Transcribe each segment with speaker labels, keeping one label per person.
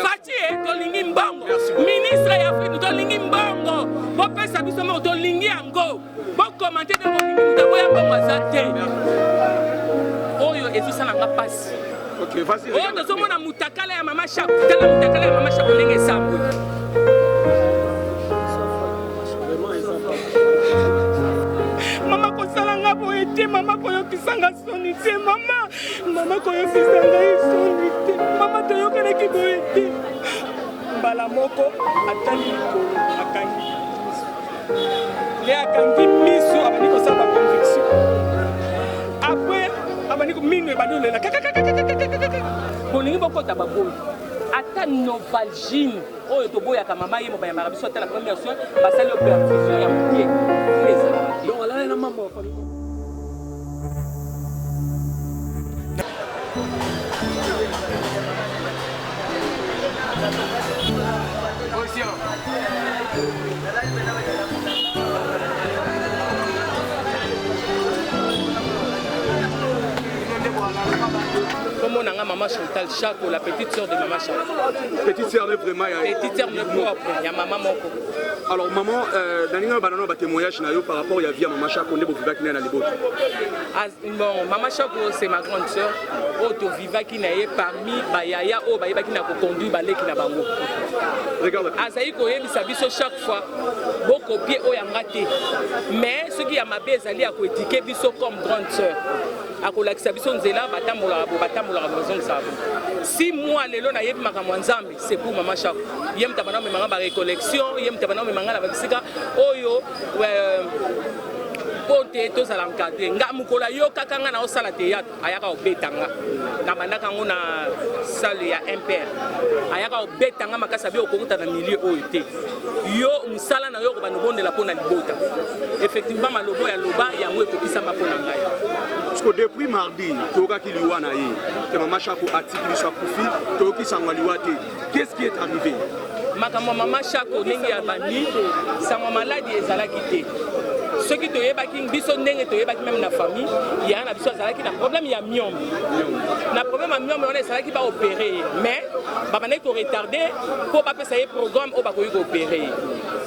Speaker 1: Fachi eh, tolingi mbongo ministre ya afrique tolingi mbongo bopesa biso mbongo tolingi yango bokomante nde bolingi moto aboya mbongo aza te oyo ezosala nga mpasi oyo
Speaker 2: tozomona mutakala
Speaker 1: ya mama shako tala mutakala ya mama shako ndenge esambwe mama kosala nga boye te mama koyokisa nga soni te mama Mama koyokisa ngai soni te. Mama toyokanaki boye te. Mbala moko atali likolo akangi miso. Ye akangi miso abandi kosala ba conviction. Après abandi mino ebandi olela kakakakakakakaka. Bolingi bokota baboyi. Ata Novalgine oyo toboyaka mama ye mobayambaka biso ata na première soin basali yo perfusion ya moke. Ezalaka te. Donc alala na mama wa famille. nanga mama chantal chaco la petite sœur de mama chaco petite sœur ne vraiment
Speaker 2: ya petite sœur ne propre
Speaker 1: ya mama moko Alors maman,
Speaker 2: euh, nalinga na banana ba témoignage na yo par rapport ya vie ya maman Shako nde bovivaki naye na libota. Ah,
Speaker 1: bon, maman Shako c'est ma grande sœur oyo tovivaki na ye parmi bayaya oyo bayebaki na koconduire baleki na bango. Regarde.
Speaker 2: Azali koyebisa
Speaker 1: biso chaque fois bokopie oyo yanga te mais soki ya mabe ezali ya koedike biso comme grande sœur akolakisa biso nzela batambolaka bo batambolaka bozongisaka bo si mwa lelo nayebi makambo ya nzambe Secours maman Shako. Ye mutu abanda komema nga ba recollection, ye mutu abanda komema nga na babisika oyo euh, po te tozala nkadre nga mokolo ayokaka nga na osala teyatre ayaka kobeta nga nabandaka yango na salle ya mpr ayaka kobeta nga makasi abi okokuta na milieu oyo te yo mosala na yo okobanda obondela mpo na libota effectivement malobo ya loba yango ekokisama mpo na ngai siko depuis
Speaker 2: mardi toyokaki liwa na ye te mama shako atiki biso akufi toyoki sango ya liwa te qu'est ce qui est arrivé makambo ya mama
Speaker 1: shako ndenge ya bandi sango maladi ezalaki te soki toyebaki biso ndenge toyebaki meme na famille yaya na biso azalaki na problème ya miombe na problème ya miombe wana ezalaki baopere ye mais babandaki koretarde mpo bapesa ye programme oyo bakoki koopere ye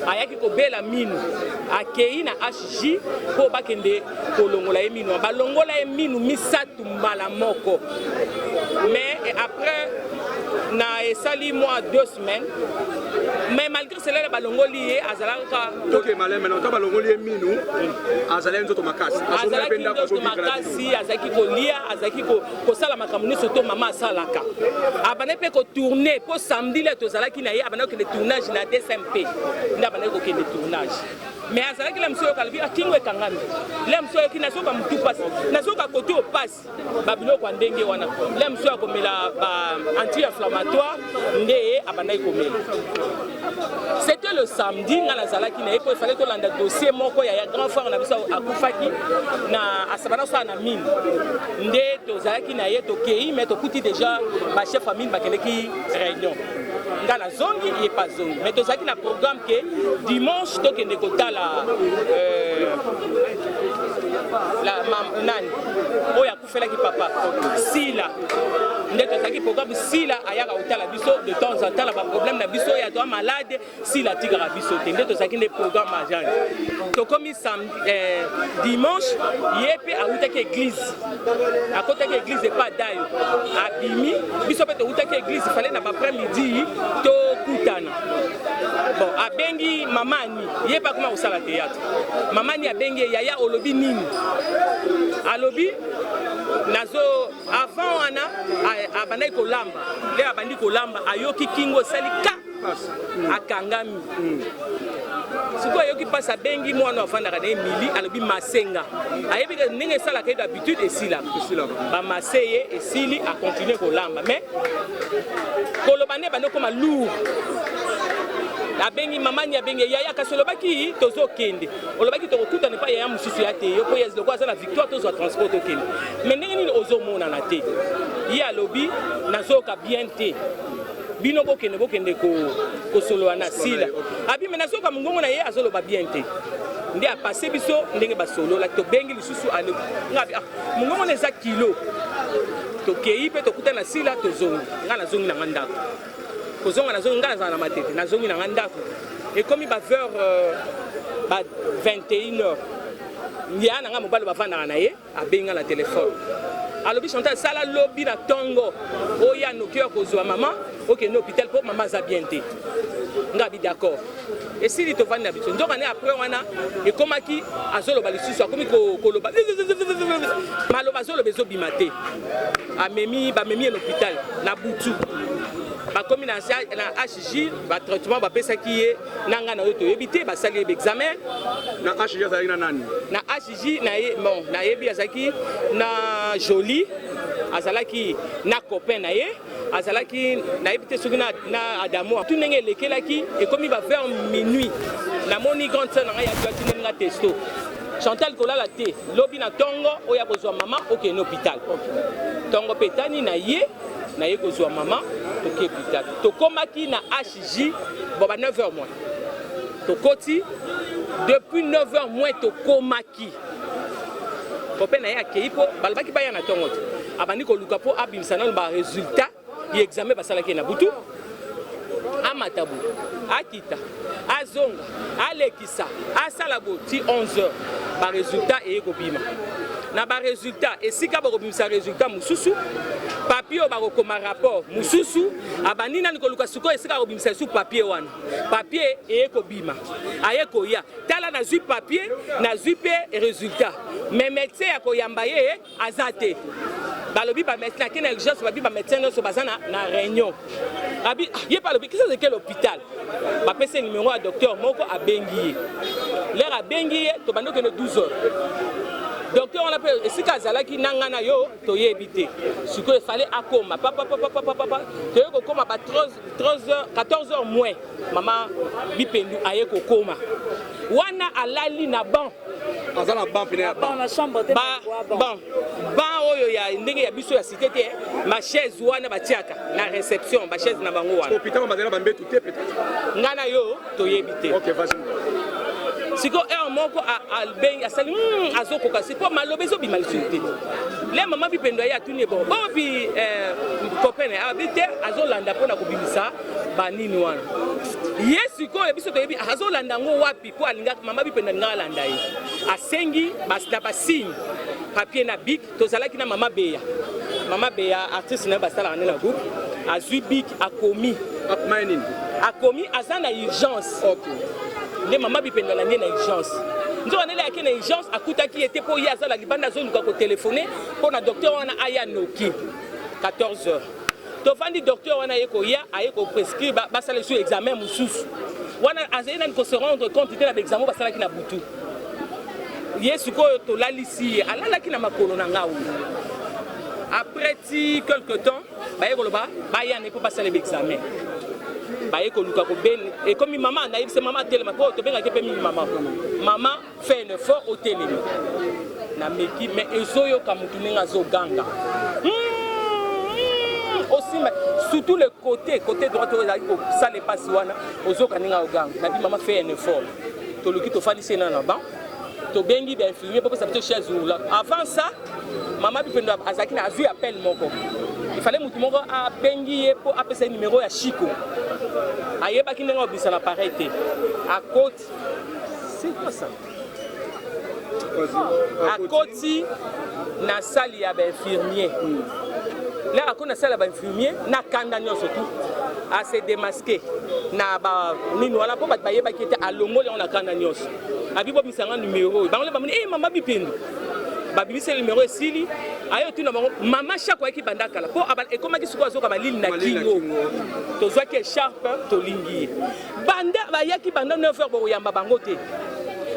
Speaker 1: ayaki kobela minu akei na hj mpo bakende kolongola ye minu balongola ye minu misato mbala moko mais après na esali mwa deux semaines mais malgré cela balongoli ye azalaki ka toke malin maintenant
Speaker 2: to balongoli ye minu azalaki nzoto makasi azalaki nzoto makasi azalaki
Speaker 1: kolia azalaki ko kosala makambo nyonso to mama asalaka abandaki mpe kotourne mpo samedi le tozalaki na ye abandaki kokende tournage na dsmp nde abandaki kokende tournage mais azalaki la mosu oyoka alobi akingo ah, ekangami la mosu ayoki nazoka motu mpasi nazoka kote oyo mpasi babiloko ya ndenge wana la mosu akomela ba anti inflammatoire nde ye abandaki komela c'était le samedi ngai nazalaki na ye mpo efale tolanda dossier moko ya grand frère na biso akufaki na asabana osala Famine nde tozalaki na ye tokei me tokuti deja bachef famine bakendeki réunion nga nazongi ye mpe azongi me tozalaki na programme ke dimanche tokende kotala euh, la, ma, nani oyo akufelaki papa sila nde tozalaki programme sila ayaka kotala biso de temps en temps na baproblème na biso ya toa malade sila atikaka biso te nde tozalaki nde programme agence tokomi eh, dimanche ye mpe awutaki eglize akotaki eglize epa dayo abimi biso mpe towutaki eglize fale na bapres midi tokutana bon abengi mama ani ye mpe akoma kosala teyatre mama ani abengi ye yaya olobi nini alobi nazo avant wana abandaki kolamba nde abandi kolamba ayoki kingo esali ka akangami mm. sikoyo ayoki mpasi abengi mwana afandaka na ye mili alobi masenga ayebi ndenge esalaka ye d'habitude esilaka bamase ye esili akontinue kolamba mais koloba nde bande okoma lour abengi mamani abengi yaya kasi olobaki tozokende olobaki tokokutana epai yaya mosusu ya te yo mpo ya loko aza na victoire tozwa transport tokende me ndenge nini ozomonana te ye alobi nazoyoka bien te bino bokende bokende kosolola na sila abime na soka mongongo na ye azoloba bien te nde apase biso ndenge basolola tobengi lisusu ale nga ah, mongongo na eza kilo tokei mpe tokuta na sila tozongi nga nazongi na nga ndako kozonga nazongi nga nazala na matete nazongi na nga ndako ekomi ba vers euh, ba 21 heures ya na nga mobali bavandaka na ye Abenga na telefone alobi Chantal sala lobi na tongo oya noki ya kozwa mama okende hôpital mpo mama aza bien te nga bi d'accord esili tovandi na biso nzoka ne après wana ekomaki azoloba lisusu akomi koloba maloba azoloba ezobima te amemi bamemi ye na hôpital na butu bakomi na hg batraitement bapesaki ye na ngai na yo toyebi te basali ye baexamen na hg
Speaker 2: azalaki na nani na Ji na
Speaker 1: ye bon nayebi azalaki na Jolie azalaki na copain na ye azalaki nayebi te soki na, na Adamo tu ndenge elekelaki ekomi ba vers minuit namoni grande sœur na ngai yaduaki ndenge nga testo Chantal kolala te lobi na tongo oya kozwa mama okende hôpital tongo petani na ye na ye kozwa mama toke hôpital tokomaki na H J bon ba 9 heures moins tokoti depuis 9 heures moins tokomaki kope na ye akei mpo balobaki baya na ntongo te abandi koluka mpo abimisa nano baresultat ya examen basalaki ye na butu amata boye akita azonga aleki asala bo ti 11 heures ba resultat eye kobima na ba resultat esika bakobimisa resultat mosusu papier oyo bakokoma rapport mosusu abandi nani koluka sikoyo esika akobimisa lisusu papier wana papier eye kobima aye koya tala nazwi papier nazwi mpe resultat me medecin ya koyamba ye aza te balobi ba médecin ake na urgence babi ba médecin nyonso baza na, na réunion abi ah, ye mpe alobi kisa ezeke l'hôpital bapesi ye numero ya docteur moko abengi ye lere abengi ye tobandi okende 12 heures docteur wana mpe esika azalaki na ngai na yo toyebi te sikoyo efale akoma papapapapapapa toye kokoma ba 14 heures moins mama bipendu aye kokoma wana alali na banc aza na ban
Speaker 2: pene ya ban
Speaker 3: ban
Speaker 1: ban oyo ya ndenge ya biso ya site te bachaise wana batiaka na réception bachaise na bango wana
Speaker 2: ngai na yo
Speaker 1: toyebi te sikoyo heure moko abengi asali hmm, azokoka si mpo maloba ezobima lisusu te le mama bipendo ye atuni bon obi oh, eh, copene abi ah, te azolanda mpo na kobimisa banini wana ye sikoyo biso toyebi azolanda yango wapi Mpo alingaka mama Bipe, nalingaka alanda ye, asengi na basigne papier na bik. Tozalaki na mama Beya, mama Beya artiste nayo basalaka nde na groupe, azwi bik akomi akomaki nini, akomi aza na urgence okay. Nde mama Bipe nalandi na urgence nzoka ndele ayaki na urgence akutaki ye te mpo ye aza na libanda azoluka kotelefone mpo na docteur wana aya noki 14 heures tovandi docteur wana aye koya aye ko prescrire ba, basala lisusu examen mosusu wana azali nani ko se rendre compte te na baexamen basalaki na butu ye sikoyo tolalisi ye alalaki na makolo na ngai oyo après ti quelque temps baye koloba bayane mpo basala baexamen baye koluka kobeni ekomi mama nayebisa mama atelema mpo tobengaki mpe mingi mama mama Fais un effort otelemi. Na meki mais ezoyoka mutu ndenge azoganga. Hmm, osimba surtout le côté côté droite oyo ezalaki kosala epasi wana ozoka ndenge agoganga nabi mama fait un effort toluki tofandisi ena na banc tobengi bainfirmier bopesa biso chaise roulante avant ça mama bipendo azalaki na azwi appel moko ifale motu moko abengi ye mpo apesa ye nimero ya shiko ayebaki ndenge abisa na pareil te akoti C'est quoi ça? akoti na sali ya bainfirmier lere akoti na sali ya bainfirmier na kanda nyonso tu ase demaske na banini wana mpo bato bayebaki ete alongoli yango na kanda nyonso abibomisa nga numero oyo bango le bamoni e mama bipendu babimisi numero esili aye otuna bango mama shako ayaki banda kala mpo ekomaki sikoyo azoka malili na kingo tozwaki echarpe tolingi ye Banda bayaki banda 9 heures bokoyamba bango te.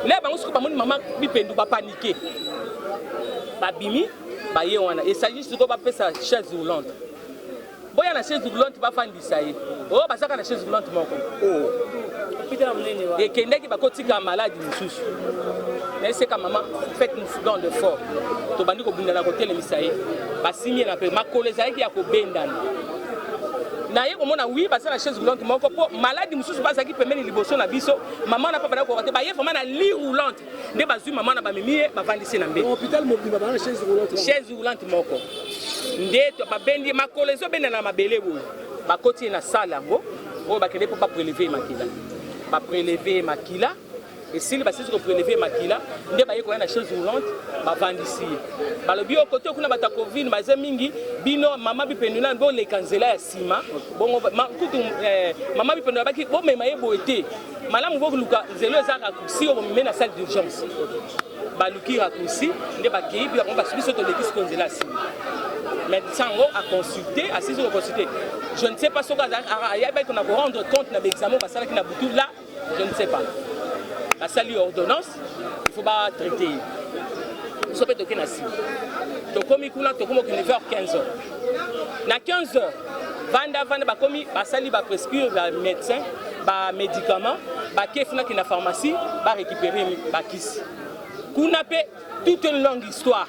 Speaker 1: Lea bango siko bamoni mama bipendu ba paniquer. Babimi baye wana esali siko bapesa chaise roulante. Boya na chaise roulante bafandisa ye. Oh bazaka na chaise roulante moko. Oh. Ekendeki bakotika maladi mosusu. Na eseka mama faites nous don de fort. Tobandi kobundana kotelemisa ye. Basimi ye na pe makolo ezalaki ya kobendana. naye komona oui baza na chaise roulante moko mpo maladi mosusu bazalaki pembeni liboso na biso mama na papa nakoka te baye vraiment na lit roulante nde bazwi mama na bamemi ye bavandisi na mbe chaise roulante moko nde babendi makolo ezobenda na mabele boye bakoti ye na sale yango oyo bakende mpo bapreleve ye makila bapreleve ye makila esili basilisi ko prelever makila nde baye koya na chaise roulante bavandisi ye balobi o kote kuna bato ya covid baza mingi bino mama bipendu nani boleka nzela ya nsima bongo kutu eh, mama bipendu abaki bomema ye boye te malamu boluka nzela eza rakursi oyo bomeme na salle d'urgence baluki rakursi nde bakei mpe bango basuki so tolekisi ko nzela ya nsima médecin yango aconsulte asisi koconsulte je ne sais pas soki ayabaki na korendre compte na baexamen basalaki na butu la je ne sais pas basali ordonnance il faut ba traiter ye biso mpe toke na nsima tokomi kuna tokomi okende vers 15 heures na 15 heures vanda vanda bakomi basali baprescure ba médecin bamédicament bakefunaki na pharmacie barécupere bakisi kuna mpe toute une longue histoire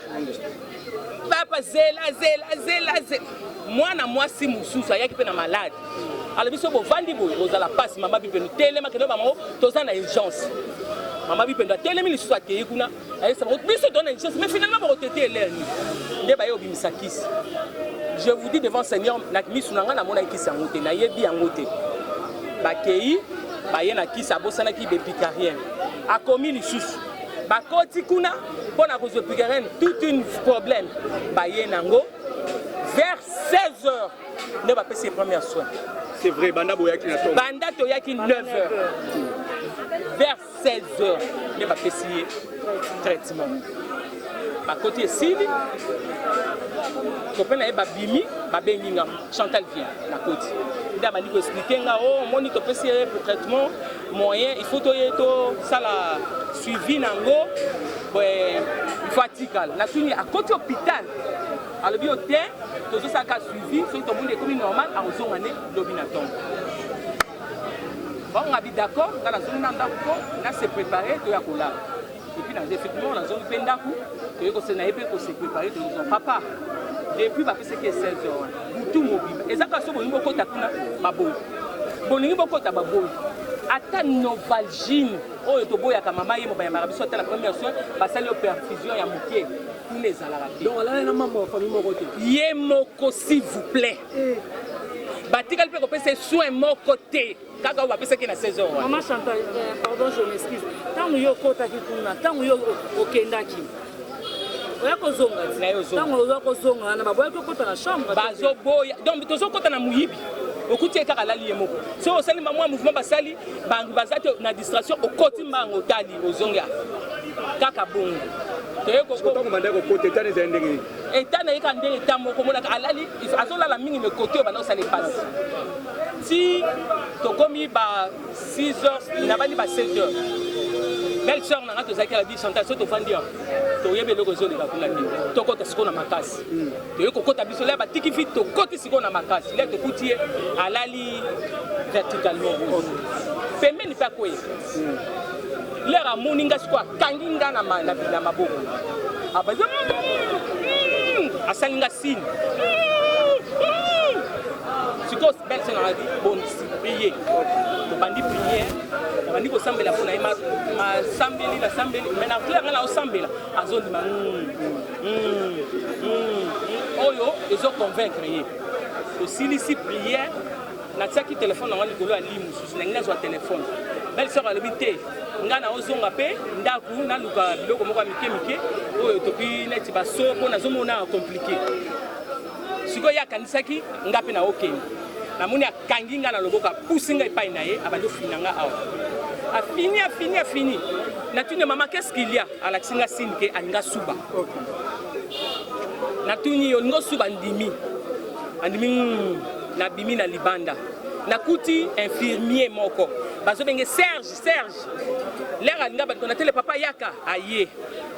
Speaker 1: papa zela zela zela zela mwana mwasi mosusu ayaki mpe na malade alobi so bovandi boye bozala mpasi mama bipenu telema kende bango toza na urgence mama bipendo atelemi lisusu akei kuna ayebisa bango biso tona urgence mais finalement bakotete elere nini nde baye obimisa kisi je vous dis devant seigneur na misu na ngai namonaki kisi yango te nayebi yango te bakei baye na kisi abosanaki bepicarien akomi lisusu bakoti kuna mpo na kozwa pigarene toute une problème baye nango vers 16 heures nde bapesi ye première soin c'est vrai banda
Speaker 2: boyaki na to banda toyaki 9 heures
Speaker 1: vers 16 heures nde bapesi ye traitement bakoti esili topena ye babimi babengi nga chantal vien nakoti nde abandi koexplike nga o oh, omoni topesi ye traitement moyen il faut toye tosala suivi na yango il faut atikala natuni akoti hôpital alobi yo te tozosalaka suivi soki tomoni ekomi normal akozonga nde lobi na ntongo bango abi d'accord ngai nazongi na ndako mpo na se prépare toya kolala epuis naza effectivement nazongi mpe ndako toye kosena ye mpe koseprepare tokozwa papa depuis bapesaki ye 16 heures wana butu mobimba eza kaka so bolingi bokota kuna baboyi bolingi bokota baboyi ata novalgine oyo toboyaka mama ye mobayambaka biso ata na première soin basali yo perfusion ya moke kuna ezalaka te donc alala na mama ya famille moko te ye moko s'il vous plaît eh. batikali mpe kopesa ye soin moko te kaka oyo bapesaki na 16 heures mama chantal euh,
Speaker 3: pardon je m'excuse ntango yo okotaki kuna ntango yo okendaki oya kozonga ntango oza kozonga wana baboyaki okota na chambre bazoboya donc
Speaker 1: tozokota na moyibi okuti ye kaka alali ye moko so osali mamwa mouvement basali bangi baza te na distraction okoti mbango otali ozongi kaka bongo
Speaker 2: eta na ye kaka ndenge
Speaker 1: eta moko omonaka alali azolala mingi mekote oyo banda osala epasi ti tokomi ba 6 heures nabandi ba 7 heures belle sœur na nga tozalaki na biso ntango soki tofandi awa toyebi eloko ezoleka kuna te tokota sikoyo na makasi hmm. toyei kokota biso lea batiki fi tokoti sikoyo na makasi lea tokuti ye alali verticalement rouge pembeni mpe akwei hmm. lere amoni nga sikoyo akangi nga na maboko abaza hmm, asali nga sini sikoyo belle sœur nanga bondisi priye tobandi priye nabandi kosambela mpo na ye masambeli nasambeli mai na claire ngai naosambela azondima hmm, hmm, hmm, oyo ezoconvaincre ye tosilisi priye natiaki telefone yango likolo ya lii mosusu nangi nazwa telefone belle sœur alobi te ngai naozonga mpe ndako naluka biloko moko ya mike mike oyo toki neti baso mpo nazomona komplike sikoyo ye akanisaki nga mpe na okende namoni akangi nga na loboko apusi nga epai na ye abandi ofina nga awa afini afini afini natuni mama qu'est-ce qu'il y a alakisi nga sini ke alinga suba natuni yo olinga osuba ndimi andimi hmm, nabimi na libanda nakuti infirmier moko bazobenge serge Serge lere alinga bato na tele papa yaka aye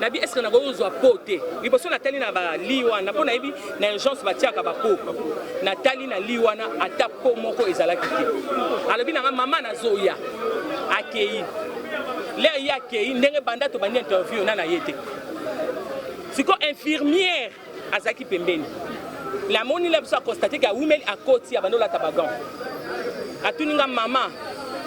Speaker 1: na bi eske nakoki kozwa po te liboso natali na bali wana mpo nayebi na urgence batiaka bapo natali na li wana ata po moko ezalaki te alobi na nga mama nazoya akei lere ye akei ndenge banda tobandi interview na na ye te siko infirmiere azalaki pembeni la moni la biso akonstate ke awumeli akoti abandi olata bagan atuni nga mama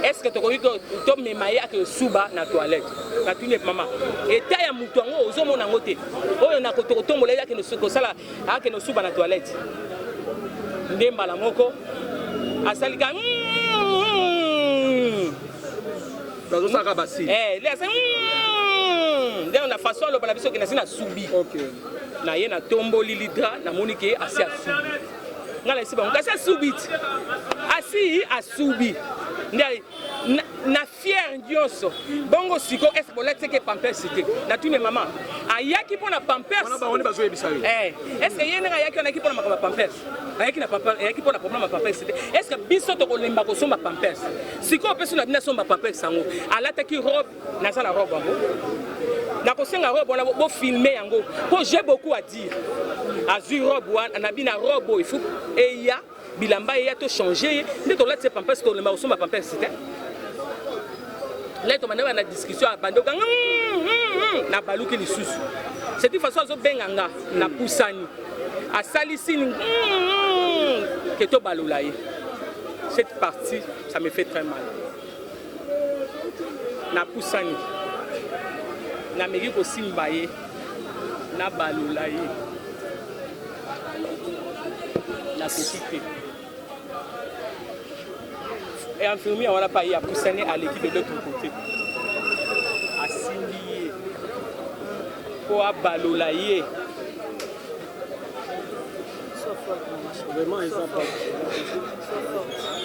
Speaker 1: est ce que tokoki tomema ye ake suba na toilette natuni mama eta ya motu yango ozomona yango te oyo nakotokotombola ye akende kosala akende suba na toilette nde mbala moko asalika mm,
Speaker 2: Bazosaka ba signe. Eh, il est asali mm,
Speaker 1: nde na façon aloba na biso ke nasi nasubi. Okay. Na ye na tomboli lidra namoni ke asi asubi. Nga na isiba kasi asubi ti. Asi asubi. Nde na, na fière nyonso bongo siko ese bolati eke pampers te natuni mama ayaki mpo na pampers eh,
Speaker 2: eske ye ndenge
Speaker 1: ayaki wana ayaki mpo na makambo ya pampers ayaki mpo na problème ya pampers te eske biso tokolemba kosomba pampers sikoyo mpe soki na bino asomba pampers yango alataki robe naza na robe yango nakosenga robe wana bofilme yango mpo j'ai beaucoup à dire azwi robe wana na bino robe oyo ifu eya bilamba eya tochange ye nde tolati ye pampers tolemba kosomba pampers te leto manaba na discussion abandi okanga hmm, hmm, hmm. nabaluki lisusu c'est une façon azobenga nga napusani asalisi mm, mm, ke tobalola ye cette partie ça me fait très mal napusani nameki kosimba ye nabalola ye nakoki te infirmière wana pa ye apusani aleki de l'autre côté asimbi ye mpo abalola ye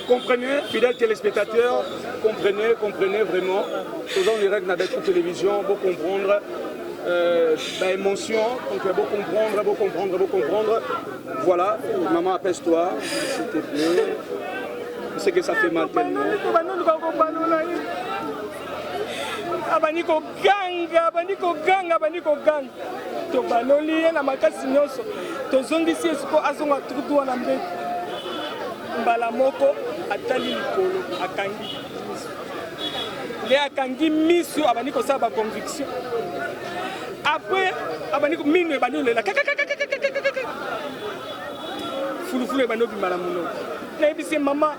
Speaker 2: comprenez fidèle téléspectateur comprenez comprenez vraiment toza en direct na beko télévision bocomprendre euh, baémotion donc bocomprendre bocomprendre bocomprendre Voilà, maman apaise toi, s'il te plaît. Je sais que ça fait mal tellement.
Speaker 1: abandi koganga abandi koganga abandi koganga tobaloli ye na makasi nyonso tozongisi ye siko azonga trudu wana mbeto mbala moko atali likolo akangi miso le akangi miso abandi kosala baconviction Après abandi minu ebandi olela fulufulu ebandi obima na monoko nayebisi ye mama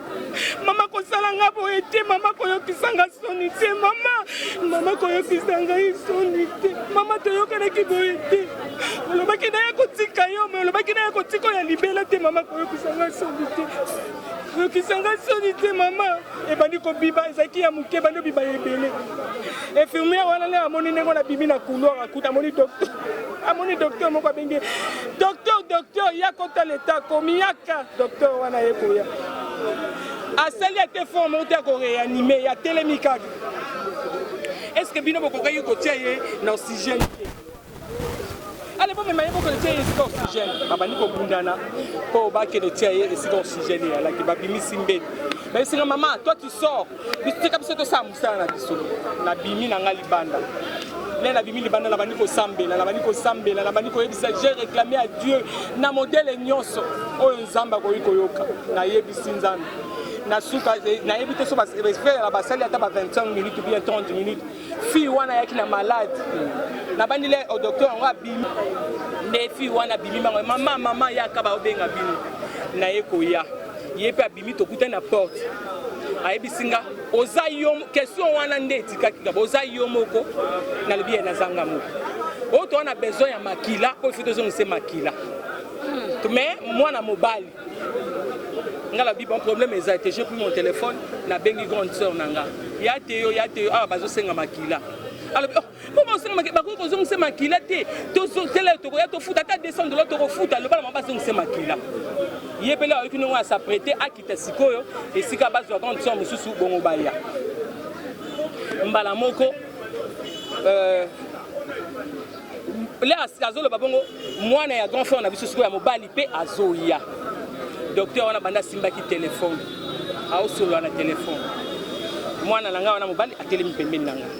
Speaker 1: mama kosala nga boye te mama koyokisa nga soni te mama mama koyokisa ngai soni te mama toyokanaki boye te olobaki naya kotika yo me olobaki naya kotika oyo ya libela te mama koyokisa nga soni te koyokisa nga soni te mama ebandi kobiba ezalaki ya moke ebandi obiba ya ebele infirmière wana nde amoni ndenge wana abimi na couloir akuta amoni docteur amoni docteur moko abengi docteur docteur ya kota leta akomi yaka docteur wana ye koya asali ate forme ote ya koreanime ya telemi kaka estce bino bokokaki kotia ye na oxygène te ale bomema ye bokende tie ye esika oxygène babandi kobundana mpo bakende tia ye esika oxygène eyalaki babimisi mbeli bayesinga mama toi tu sors bitika biso tosala mosala na biso nabimi na ngai libanda nde nabimi libanda nabandi kosambela nabandi kosambela nabandi koyebisa je réclame à dieu na modele nyonso oyo nzambe akoki koyoka nayebisi nzambe na suka nayebi te so efele na basali ata ba 25 minutes bien 30 minutes Fille wana yaki na malade. Na bandi le au docteur yango abimi. Nde fille wana abimi bango mama mama yaka ba obenga bino. Na ye koya. Ye pe abimi tokutani na porte. Ayebisi nga oza yo question wana nde etikaki nga boza yo moko nalobi ye nazanga moko oyo toza na besoin ya makila mpo ifo tozongisa makila mais mwana mobali nga la biban problème eza te j'ai pris mon téléphone na bengi grande sœur na nga ya te yo ya te yo awa bazosenga makila alobi oh, mpo bazosenga makila bakoki kozongisa makila te tozotela tokoya tofuta ata 200 dola tokofuta loba na mama bazongisa makila ye mpele ayoki ndongo ya sa prete akita sikoyo esika bazwa grande sœur mosusu bongo baya mbala moko euh, lea asika azoloba bongo mwana ya grand frère na biso sikoyo ya mobali mpe azoya docteur wana banda asimbaki telefone aosolola na telefone mwana na ngai wana mobali atelemi pembeni na ngai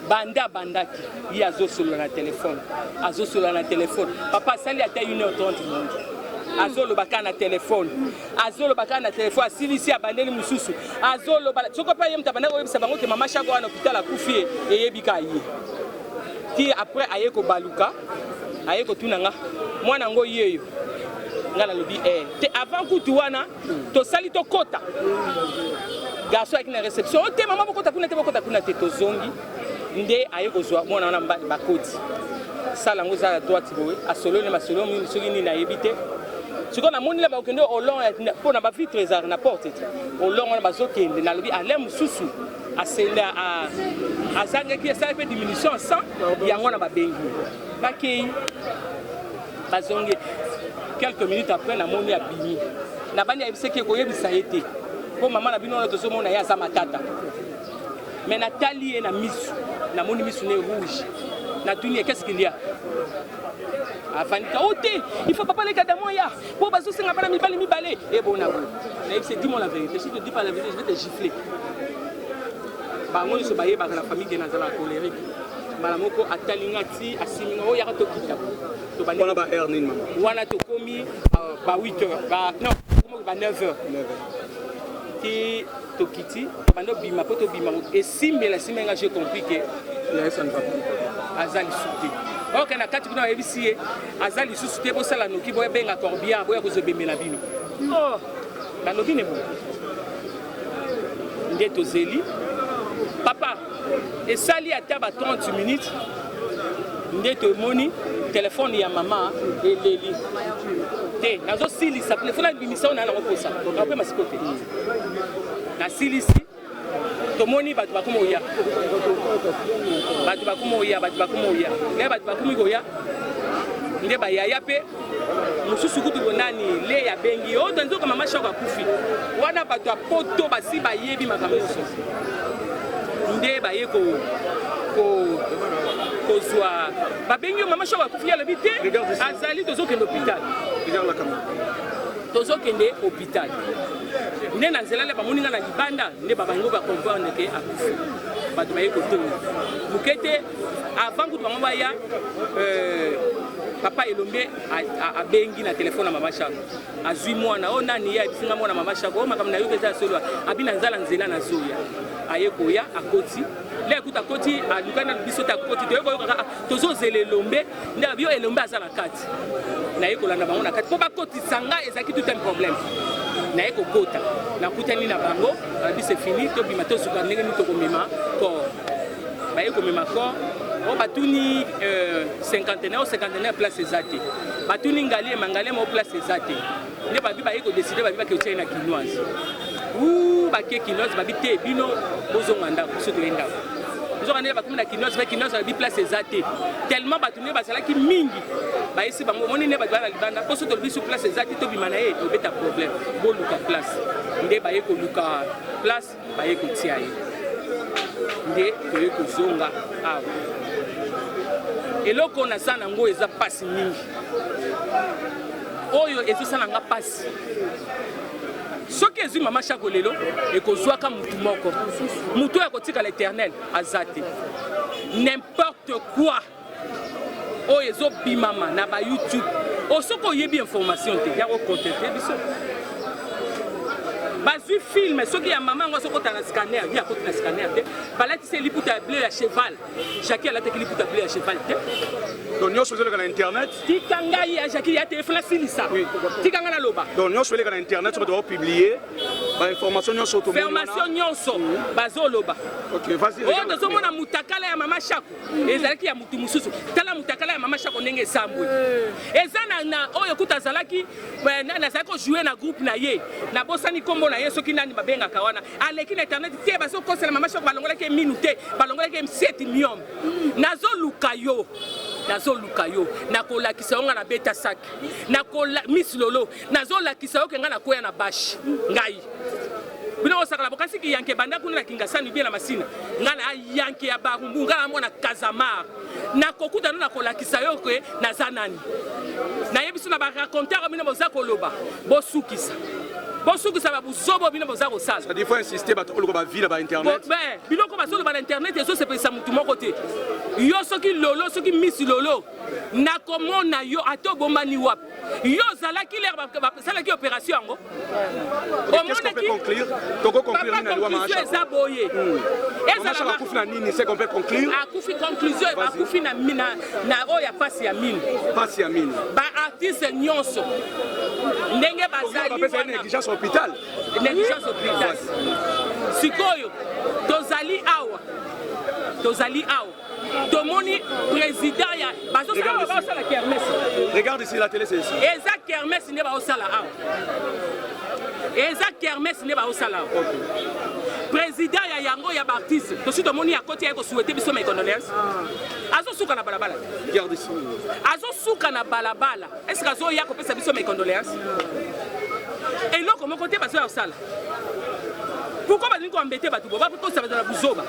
Speaker 1: banda abandaki ye azosolola na telefone azosolola na telefone papa asali ata 1 heure 30 minute azoloba kaka na telefone azoloba kaka na telefone asilisi abandeli mosusu azoloba soki mpe ye moto abandaki koyebisa bango ke mama shako wana hôpital akufi ye eyebi kaka ye ti après aye kobaluka aye kotuna nga mwana yango yeyo nga nalobi eh. te avant kutu wana tosali tokota garçon ayaki na réception o oh, te mama bokota kuna te bokota kuna te tozongi nde aye kozwa mwana wana bakoti sala yango eza ya droite boye asololi masolo mingi soki nini nayebi te sikoyo namoni na bakokende olonga mpo na bavitre ezalaka na porte te olonga wana bazokende nalobi ale mosusu asenda azangaki esali mpe diminution ya sang yango wana babengi bakei bazongi quelques minutes après namoni abimi na bani ayebisaki ekoyebisa ye te mpo mama na bino wana tozomona ye aza matata me natali ye na misu namoni misu ne rouge natuni ye qu'est ce qu'il y a afandika o te il faut papa leka damoya Po bazo senga bana mibali mibale et bon na yebisi dis moi la vérité si tu dis pas la vérité je vais te gifler bango nyonso bayebaka na famille kena azalaka colérique mbala moko atali nga ti asimi nga oyaka tokita wana ba heure nini mama wana tokomi euh, ba 8 heures ba non ba 9 heures ti tokiti banda obima mpo tobima esimbela esimbeli nga je compris ke aza lisusu te oyoka na kati kuna bayebisi ye aza lisusu te bosala noki boyabenga corbillard boya kozwa ebemela bino oh, balobi ne boye nde tozeli papa esali ata ba 30 minutes nde tomoni telefone ya mama eleli te nazosilisa telefone abimisa oyo na yango mposa akoyema siko te nasilisi tomoni bato bakoma oya bato bakoma oya bato bakoma oya naye bato bakomi koya nde bayaya mpe mosusu kutu bonani le abengi oyo oh, nzoka mama shoko akufi wana bato ya poto basi bayebi makambo nyonso nde baye ko kozwa babengi yo mama shoko akufi alobi te azali tozokende hôpital tozokende hôpital hôpital nde na nzela nde bamoni nga na libanda nde babango bacomprendre ke akufi bato baye kotonga moke te avant kutu bango baya euh, papa elombe abengi na telefone na mama shako azwi mwana oyo oh, nani ye ayebisi nga mwana mama shako oyo oh, makambo na yoki eza ya solo abi na nzala nzela nazoya aye koya akoti le akuta akoti alukani na biso te akoti toye koyokaka ah, tozozela elombe nde yo elombe aza na kati naye kolanda bango na kati mpo bakotisa nga ezalaki tout un problème naye kokota nakutani na bango babi se fini tobima tosuka ndenge nini tokomema corps baye komema corps o oh, batuni euh, cinquantenaire o oh, cinquantenaire place eza te batuni ngaliema ngaliema o oh, place eza te nde babi baye kodeside babi bake otyai na kinoise u bake kinoise babi te bino bozonga ndako biso toye ndako nzoka ndenge bakomi na kinoise mpe kinoise babi place eza te tellement bato nde bazalaki mingi bayesi bango omoni nde bato baa na libanda mpo so tolobi su place eza te tobima na ye tobeta problème boluka place nde baye koluka place baye kotia ye nde toye kozonga awa eloko naza nango eza mpasi mingi oyo ezosala nga mpasi soki ezwi mama shako lelo ekozwaka motu moko motu oyo akotikala éternel aza te n'importe quoi oyo ezobimama na ba youtube o soki oyebi information te ya kocontente biso bazwi filme soki ya mama yango azokota na scanner ye akoti na scanner te balatisi ye liputa ya ble ya cheval jaki alataki liputa ble ya cheval te donc
Speaker 2: nyonso ezoleka na internet tika ngai ya
Speaker 1: jaki ya telefone asilisa tika ngai naloba donc nyonso eleka na internet
Speaker 2: soki bato bapublie bainformation nyonso formation nyonso
Speaker 1: bazoloba oyo
Speaker 2: tozomona mutakala
Speaker 1: ya mama shako ezalaki ya mutu mosusu tala mutakala ya mama shako ndenge esambwe eh. eza na, na oyo kuta azalaki eh, nazalaki kojoue na groupe na ye nabosani nkombo na ye soki nani babengaka wana aleki na internet te bazokosela mama shako balongolaki ye minu te balongolaki ye mseti miome hmm. nazoluka yo nazoluka yo nakolakisa yo ngai nabeta saki misilolo nazolakisa yo ke ngai nakwea na bashe ngai bino bosakala bokasi kiyanke banda kuna na kingasani ubie na masina ngai na yanke ya barumbu ngai na mwana kazamar nakokuta no nakolakisa yo ke naza nani nayebisi na baracontere bino boza koloba bosukisa bosukisa babuzobo bino boza kosala
Speaker 2: biloko bazoloba
Speaker 1: na internet ezosepelisa motu moko te yo soki lolo soki misi lolo nakomona yo ata obombani wapi yo ozalaki lere basalaki opération yango
Speaker 2: omonakiconclusion eza boye
Speaker 1: hmm. ezalakufi
Speaker 2: na nini ce qu'on peut conclure akufi conclusion
Speaker 1: akufi na oyo ya pasi ya mine pasi ya mine
Speaker 2: baartiste
Speaker 1: nyonso ndenge bazaliegligence hôpital
Speaker 2: négligence
Speaker 1: hôpital sikoyo tozali awa tozali awa tomoni président ya bazosala bazosala kermesse regarde ici la télé
Speaker 2: c'est ici eza kermesse nde
Speaker 1: baosala awa eza kermesse nde baosala awa président ya yango ya baartiste tosi tomoni ya koti ya kosuete biso ma condoléance ah. azosuka na balabala
Speaker 2: azosuka
Speaker 1: na balabala eske azoya kopesa biso ma condoléance eloko moko te bazoya kosala pourquoi balingi koambete bato bo bakosa bato na buzoba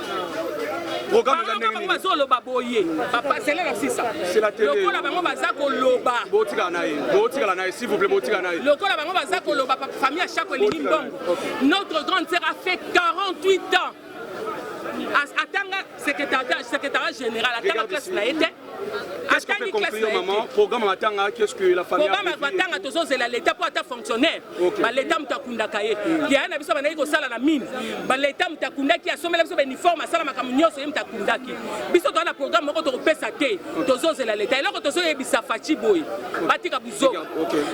Speaker 2: bango bazoloba
Speaker 1: boye bapasele na sisa lokola
Speaker 2: bango baza
Speaker 1: koloba botikala na ye
Speaker 2: botikala na ye s'il vous plaît botikala na ye lokola bango baza koloba
Speaker 1: famille ya chako elingi mbongo notre grande sœur a fait 48 ans atanga secrétariat général atanga classe na ye te Qu'est-ce
Speaker 2: qu'on peut conclure, maman Programme Matanga, qu'est-ce que la famille Programme Matanga, tozozela
Speaker 1: l'État pour être fonctionnaire. Ba l'État mutakundaka ye. Ya na biso banaki kosala na mine. Ba l'État mutakundaki asomela biso ba uniforme asala makambo nyonso ye mutakundaki. Biso toza na programme moko tokopesa te. Tozozela l'État. Eloko tozoyebisa Fachi boye. Batika buzo.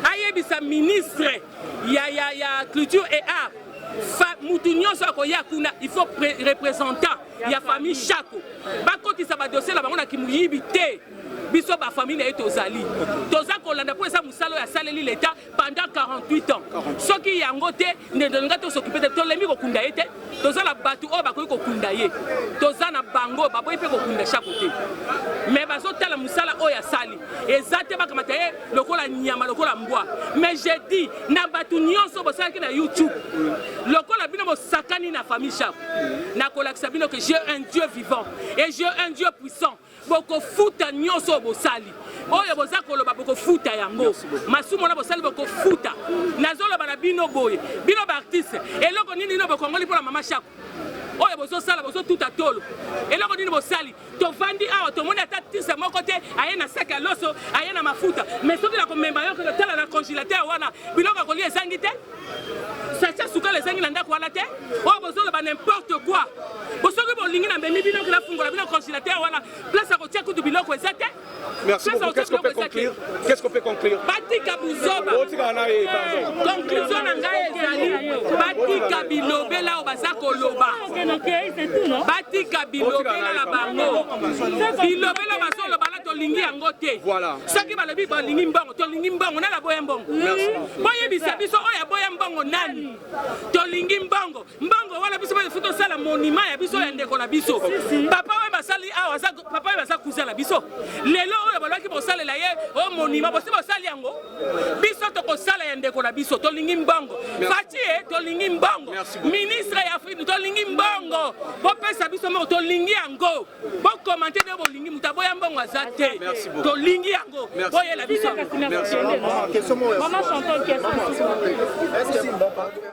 Speaker 1: Ayebisa ministre ya ya ya culture et art fa mutu nyonso akoya kuna il faut représentant ya famille shako bakotisa badossier na bango na kimoyibi te biso bafamille na ye tozali toza kolanda mpo eza mosala oyo asaleli leta pendant 48 ans soki yango te nde tolinga tosokipe te tolembi kokunda ye te toza na bato oyo bakoki kokunda ye toza na bango baboyi mpe kokunda shako te me bazotala mosala oyo asali eza te bakamata ye lokola nyama lokola mbwa me je dis na bato nyonso bosalaki na youtube lokola bino bosakani na famille shako nakolakisa bino ke je un dieu vivant et je un dieu puissant bokofuta nyonso oyo bosali oyo boza koloba bokofuta yango masumu wana bosali bokofuta nazoloba na bino boye bino baartiste eloko nini ino bokongoli mpo na mama shako oyo bozosala bozotuta tolo eloko nini bosali tovandi awa tomoni ata tise moko te aye na saki ya loso aye na mafuta mais soki nakomema yo tala na congulateur wana biloko ya kolia ezangi te Chacha sukala ezangi na ndako wana te oyo bozoloba n'importe quoi bosoki bolingi na memi bino kila fungola bino congélateur wana place ya kotia kutu biloko eza te Merci Sasa beaucoup.
Speaker 2: Qu'est-ce qu'on peut conclure Qu'est-ce qu'on peut conclure Batika buzoba.
Speaker 1: Botika na ye, pardon. Conclusion na ngai ezali batika bilobela oyo baza koloba. Batika bilobela na bango. Bilobela bazoloba tolingi yango te voilà. soki balobi
Speaker 2: balingi
Speaker 1: mbongo tolingi mbongo nani aboya mbongo boyebisa biso oyo aboya mbongo nani tolingi mbongo mbongo wana biso baefu tosala monima ya biso ya ndeko na biso papa oyo basali awa papa oyo baza kuza na biso lelo oyo balobaki bosalela ye o oh, monima bosi bosali yango biso tokosala ya ndeko na biso tolingi mbongo fatie tolingi mbongo ministre ya afrique tolingi mbongo bopesa biso mbongo tolingi yango bokomante nde bolingi moto aboya mbongo aza te tolingi yango boyela
Speaker 3: biso